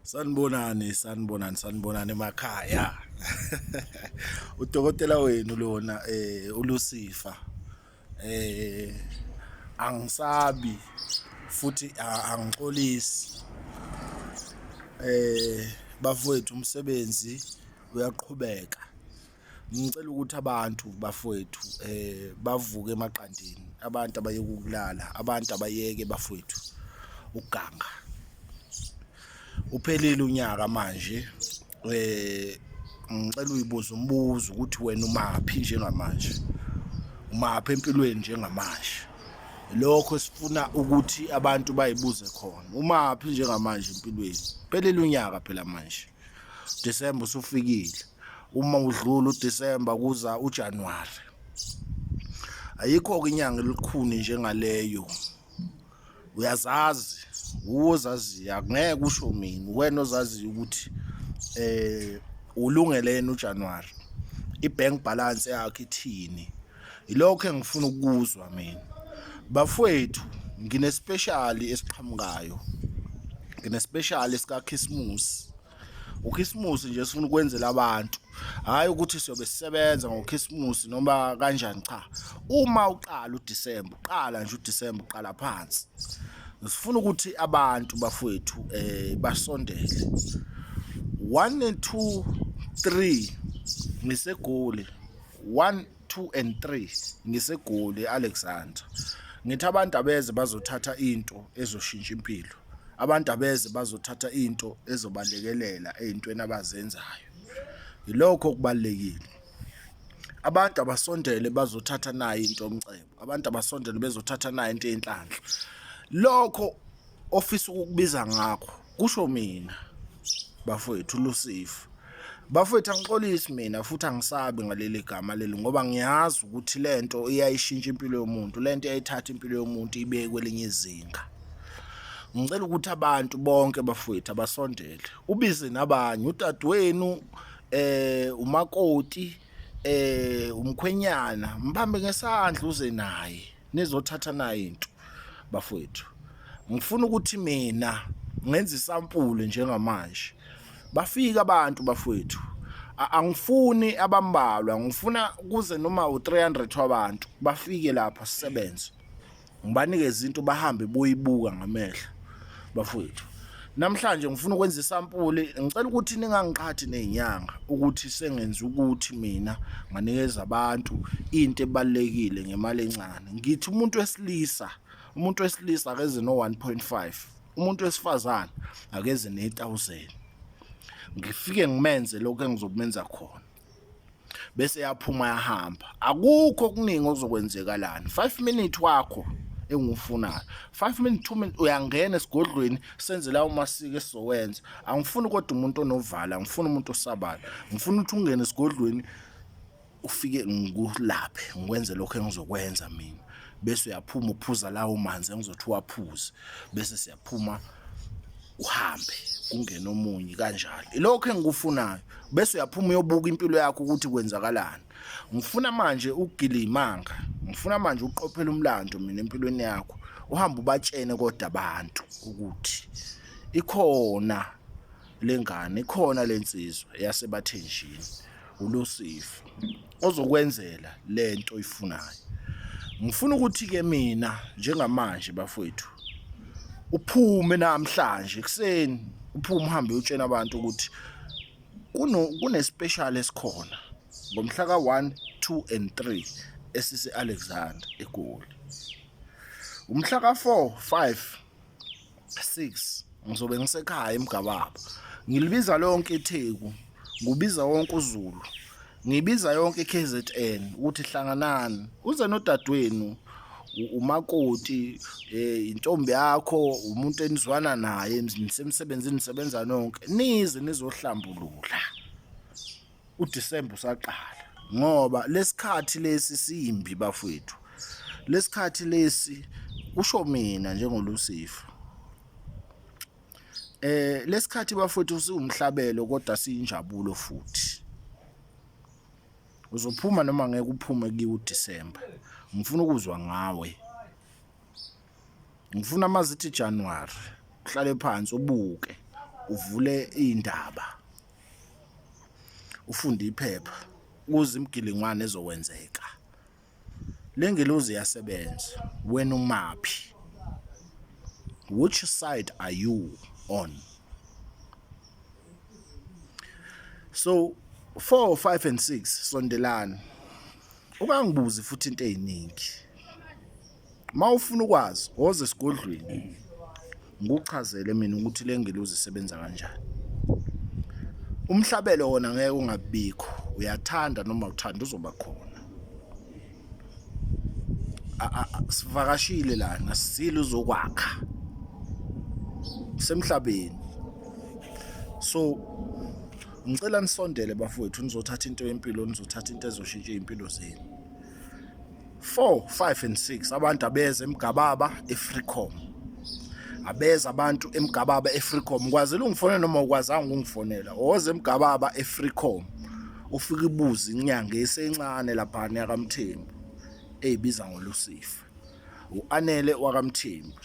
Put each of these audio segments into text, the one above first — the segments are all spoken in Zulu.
Sanibonani, sanibonani, sanibonani emakhaya. Udokotela wenu lona eh uLucifer. Eh angisabi futhi angixolisi. Eh bafowethu umsebenzi uyaqhubeka. ngicela ukuthi abantu bafowethu eh bavuke emaqandeni abantu abayeke ukulala abantu abayeke bafowethu uganga uphelile unyaka manje eh ngicela uyibuze umbuzo ukuthi wena umaphi njengamanje umaphi empilweni njengamanje lokho sifuna ukuthi abantu bayibuze khona umaphi njengamanje empilweni phelile unyaka phela manje December usufikile uma udlula uDecember kuza uJanuary ayikho ke inyanga elikhuni njengaleyo uyazazi uwozazi akungeke usho mina wena ozazi ukuthi eh ulungele yena uJanuary ibank balance yakhe ithini Ilokho engifuna ukuzwa mina. Bafwethu nginespecially esiqhamukayo. Nginespecially sika Christmas. ukhisimusi nje sifuna ukwenzela abantu hhayi ukuthi siyobe sisebenza ngokhisimusi noma kanjani cha uma uqala udisemba uqala nje udisemba uqala phansi sifuna ukuthi abantu bafowethu um basondele one and two three ngisegoli 1 2 and 3 ngisegoli Alexander ngithi abantu abeze bazothatha into ezoshintsha impilo abantu abeze bazothatha into ezobalekelela ezintweni abazenzayo yilokho okubalekile abantu abasondele bazothatha nayo into omcebo abantu abasondele bezothatha nayo into yenhlanhla lokho ofisa ukukubiza ngakho kusho mina bafowethu lusifu bafowethu angixolisi mina futhi angisabi ngaleli gama leli ngoba ngiyazi ukuthi le nto iyayishintsha impilo yomuntu le nto iyayithatha impilo yomuntu ibeke kwelinye izinga ngicela ukuthi abantu bonke bafowethu abasondele ubize nabanye udadewenu eh umakoti eh umkhwenyana mbambe ngesandla uze naye nizothatha nayo into bafowethu ngifuna ukuthi mina ngenza isampule njengamanje bafika abantu bafowethu angifuni abambalwa ngifuna kuze noma u300 wabantu bafike lapha sisebenze ngibanikeza into bahambe boyibuka ngamehlo bafowethu namhlanje ngifuna ukwenza isampuli ngicela ukuthi ningangiqhathi nezinyanga ukuthi sengenza ukuthi mina nganikeza abantu into ebalekile ngemali encane ngithi umuntu wesilisa umuntu wesilisa akeze no 1.5 umuntu wesifazane akeze ne 1000 ngifike ngimenze lokho engizokumenza khona bese yaphuma yahamba akukho okuningi okuzokwenzeka lana 5 minute wakho engiwufunayo 5 minute 2 minute uyangena esigodlweni senze lawo masiko esizowenza angifuni kodwa umuntu onovala angifuni umuntu osabala ngifuna ukuthi ungene esigodlweni ufike ngikulaphe ngikwenze lokho engizokwenza mina bese uyaphuma uphuza lawo manzi engizothi waphuze bese siyaphuma uhambe kungena omunye kanjalo ilokho engikufunayo bese uyaphuma uyobuka impilo yakho ukuthi kwenzakalani ngifuna manje ukugila imanga ngifuna manje uqophela umlando mina empilweni yakho uhamba ubatshene kodwa abantu ukuthi ikhona lengane ikhona lensizwa yasebathenjini ulusifa ozokwenzela lento oyifunayo ngifuna ukuthi ke mina njengamanje bafowethu uphume namhlanje ekseni uphume uhambe utshena abantu ukuthi kuno kune special esikhona ngomhla ka 1 2 and 3 esise Alexander eGoli umhla ka 4 5 6 ngizobe ngisekhaya emgababa ngilibiza lonke itheku ngubiza wonke uzulu ngibiza yonke KZN ukuthi hlanganani uze nodadewenu umakoti eh intombi yakho umuntu enizwana naye nisemsebenzini nisebenza nonke nize nizohlambulula uDisemba usaqala ngoba lesikhathi lesi simbi bafwethu lesikhathi lesi kusho mina njengolusifa eh lesikhathi bafwethu siwumhlabelo kodwa siyinjabulo futhi uzophuma noma ngeke uphume kiwo uDisemba ngifuna ukuzwa ngawe ngifuna amazithi January uhlale phansi ubuke uvule indaba ufunde iphepha kuze imigilingwane ezokwenzeka le ngelozi iyasebenza wena umaphi which side are you on so 4 5 and 6 sondelani ukangibuzi futhi into eziningi uma ufuna ukwazi woza esigodlweni ngikuchazele mina ukuthi le ngelozi isebenza kanjani umhlabelo wona ngeke ungabikho uyathanda noma uthanda uzoba khona sivakashile lana sisile uzokwakha semhlabeni so ngicela nisondele bafowethu nizothatha into yempilo nizothatha into ezoshintsha iy'mpilo zenu 4 5 and 6 abantu abeze emgababa efreecom abeza abantu emgababa efreecom kwazile ungifonela noma ukwazanga ukungifonela oze emgababa efreecom ufike ibuze inyanga esencane lapha yakamthembu eyibiza ngolusifa uanele wakamthembu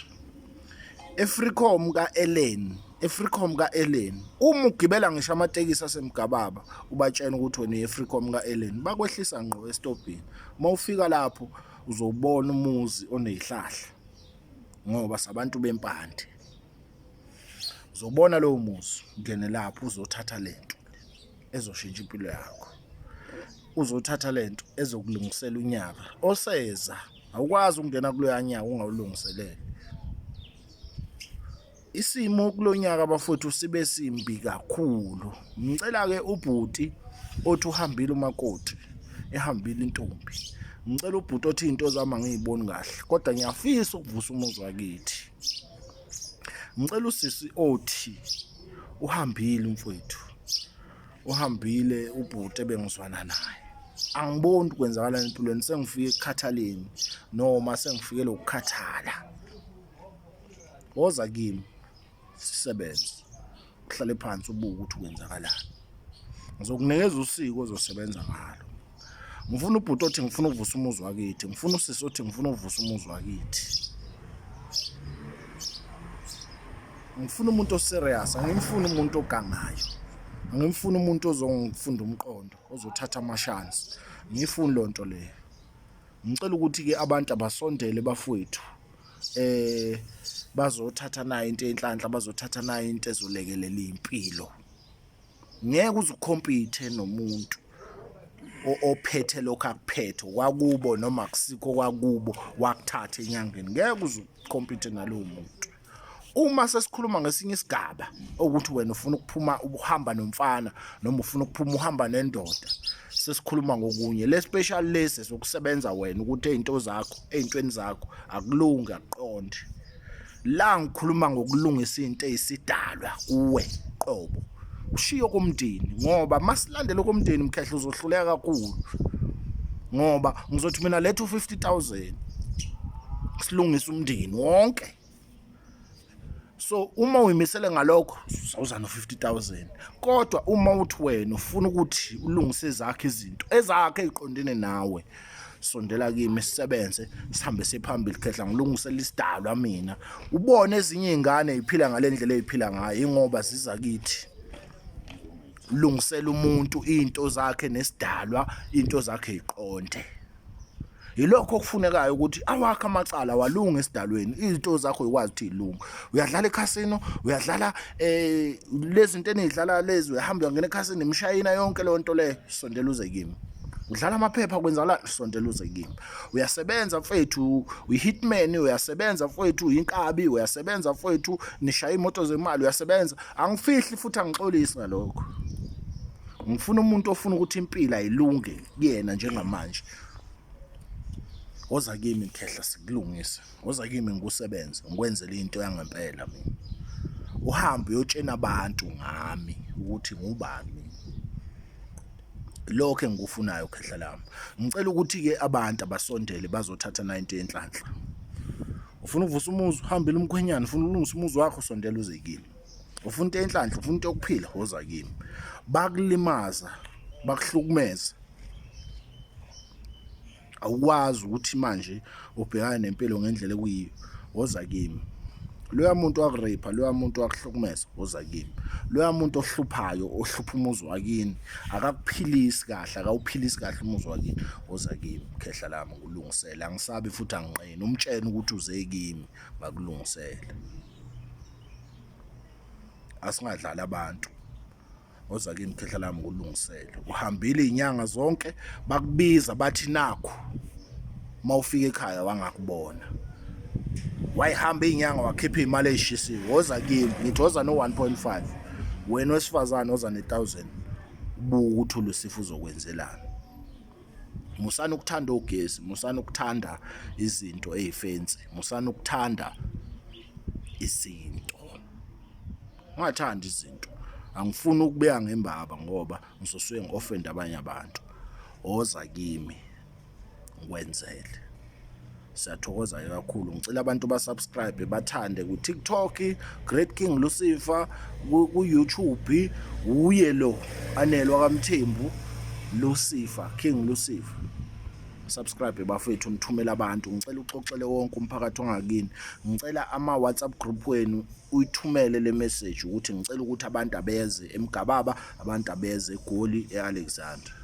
efreecom ka-eleni efreecom ka-eleni uma ugibela ngisho amatekisi asemgababa ubatshena ukuthi wena uyefreecom ka-eleni bakwehlisa ngqo esitobhini uma ufika lapho uzobona umuzi onezihlahla ngoba sabantu bempande uzobona lowo muzi ngene lapho uzothatha lento ezoshintsha impilo yakho uzothatha lento ezokulungisela unyaka oseza awukwazi ukungena kuloya nyaka ungawulungiselele isimo kulonyaka bafowethu sibe simbi kakhulu ngicela ke ubhuti othi uhambile umakoti ehambile intombi ngicela ubhuti othi into zami angiyiboni kahle kodwa ngiyafisa ukuvusa umuzi wakithi ngicela usisi othi uhambile umfowethu uhambile ubhuti ebengizwana naye angiboni kwenzakala empilweni sengifike ekukhathaleni noma sengifike lokukhathala woza kimi sisebenze uhlale phansi ubuke ukuthi kwenzakalani ngizokunikeza usiko ozosebenza ngalo ngifuna ubhuti othi ngifuna uvusa umuzi wakithi ngifuna usisi othi ngifuna uvusa umuzi wakithi ngifuna umuntu oserious angimfuni umuntu ogangayo angimfuni umuntu ozongifunda umqondo ozothatha amashansi ngiyifuni loo nto leyo ngicela ukuthi-ke abantu abasondele bafowethu eh bazothatha nayo into enhlanhla bazothatha nayo into ezolekelela impilo ngeke uzukhompithe nomuntu ophethe lokho akuphethe kwakubo noma kusikho kwakubo wakuthatha enyangeni ngeke uzukhompithe nalowo muntu uma sesikhuluma ngesinye isigaba ukuthi wena ufuna ukuphuma ubuhamba nomfana noma ufuna ukuphuma uhamba nendoda sesikhuluma ngokunye le special lesi sokusebenza wena ukuthi ezinto zakho ezintweni zakho akulungi aqonde la ngikhuluma ngokulungisa into eyisidalwa kuwe qobo ushiyo komndeni ngoba masilandele komndeni mkhehla uzohluleka kakhulu ngoba ngizothi mina letha u50000 silungisa umndeni wonke so uma uyimisele ngalokho uzawuza no-50000 kodwa uma uthi wena ufuna ukuthi ulungise zakhe izinto ezakhe eziqondene nawe sondela kimi sisebenze sihambe siphambili khehla ngilungisela isidalwa mina ubone ezinye izingane eziphila ngalendlela eziphila ngayo ingoba ziza kithi lungisela umuntu into zakhe nesidalwa into zakhe iqonde yilokho okufunekayo ukuthi awakhe amacala walunga esidalweni izinto zakho uyikwazi ukuthi ilunga uyadlala ekhasino uyadlala eh lezi zinto enidlala lezi uyahamba uyangena ekhasini imshayina yonke leyo nto le sondela uze kimi udlala amaphepha kwenzala sontela uze kimi uyasebenza mfethu uyihitman uyasebenza mfethu uyinkabi uyasebenza mfethu nishaya imoto zemali uyasebenza angifihli futhi angixolisi ngalokho ngifuna umuntu ofuna ukuthi impilo ayilunge kuyena njengamanje woza kimi khehla sikulungise woza kimi ngikusebenze ngikwenzele into yangempela mina uhambe uyotshena abantu ngami ukuthi ngubani mina lokho engikufunayo khehla lami ngicela ukuthi ke abantu abasondele bazothatha 90 yenhlanhla ufuna uvusa umuzi uhambile umkhwenyana ufuna ulungisa umuzi wakho sondela uze kimi ufuna into enhlanhla ufuna into yokuphila woza kimi bakulimaza bakuhlukumeza awukwazi ukuthi manje ubhekane nempilo ngendlela ekuyiyo woza kimi loya muntu wakurape loya muntu wakuhlukumeza woza kimi loya muntu ohluphayo ohlupha umuzi wakini akakuphilisi kahle akawuphilisi kahle umuzi wakini woza kimi khehla lami ngikulungisele angisabi futhi anginqeni umtshene ukuthi uze kimi ngakulungisela asingadlali abantu oza kimi khehla lami ngulungisele uhambile izinyanga zonke bakubiza bathi nakho mawufika ekhaya wangakubona wayihamba izinyanga wakhipha imali ezishisiwe woza kimi ngithi woza no 1.5 wena wesifazane oza ne 1000 buku uthule sifuzo kwenzelana musani ukuthanda ogesi musani ukuthanda izinto ezifensi musani ukuthanda izinto ungathandi izinto angifuni ukubeya ngembaba ngoba ngizosuke ngi-ofenda abanye abantu oza kimi ngikwenzele siyathokoza ke kakhulu ngicela abantu basubscribe bathande ku-tiktok great king lucifer ku-youtube wuye lo anelwa kamthembu lucifer king lucifer subscribe bafethu nithumela abantu ngicela uxoxele wonke umphakathi ongakini ngicela ama WhatsApp group wenu uyithumele le message ukuthi ngicela ukuthi abantu abeze emgababa abantu abeze egoli eAlexander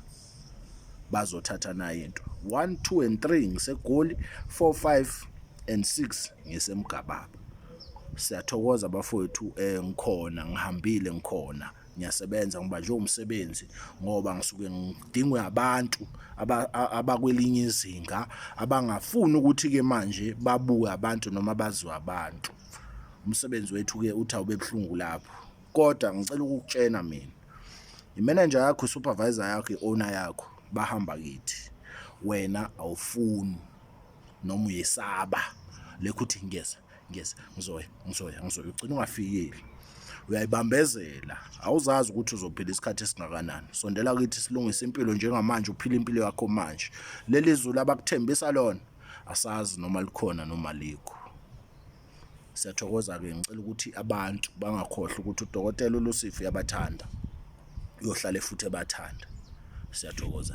bazothatha nayo into 1 2 and 3 ngisegoli 4 5 and 6 ngisemgababa siyathokoza bafowethu eh ngikhona ngihambile ngikhona ngiyasebenza ngibanjwe umsebenzi ngoba ngisuke ngidingwe abantu abakwelinye izinga abangafuni ukuthi ke manje babuke abantu noma baziwe abantu umsebenzi wethu ke uthi awube buhlungu lapho kodwa ngicela ukukutshena mina imenenja yakho supervisor yakho iowner yakho bahamba kithi wena awufuni noma uyesaba lekho uthi ngiyeza ngiyeza ngizoya ngizoya ngizoya ugcina ungafikile uyayibambezela awuzazi ukuthi uzophila isikhathi esingakanani sondela kithi silungise impilo njengamanje uphila impilo yakho manje leli zulu abakuthembisa lona asazi noma likhona noma likho Siyathokoza-ke ngicela ukuthi abantu bangakhohlwa ukuthi udokotela uLucifer uyabathanda uyohlale futhi ebathanda siyathokoza.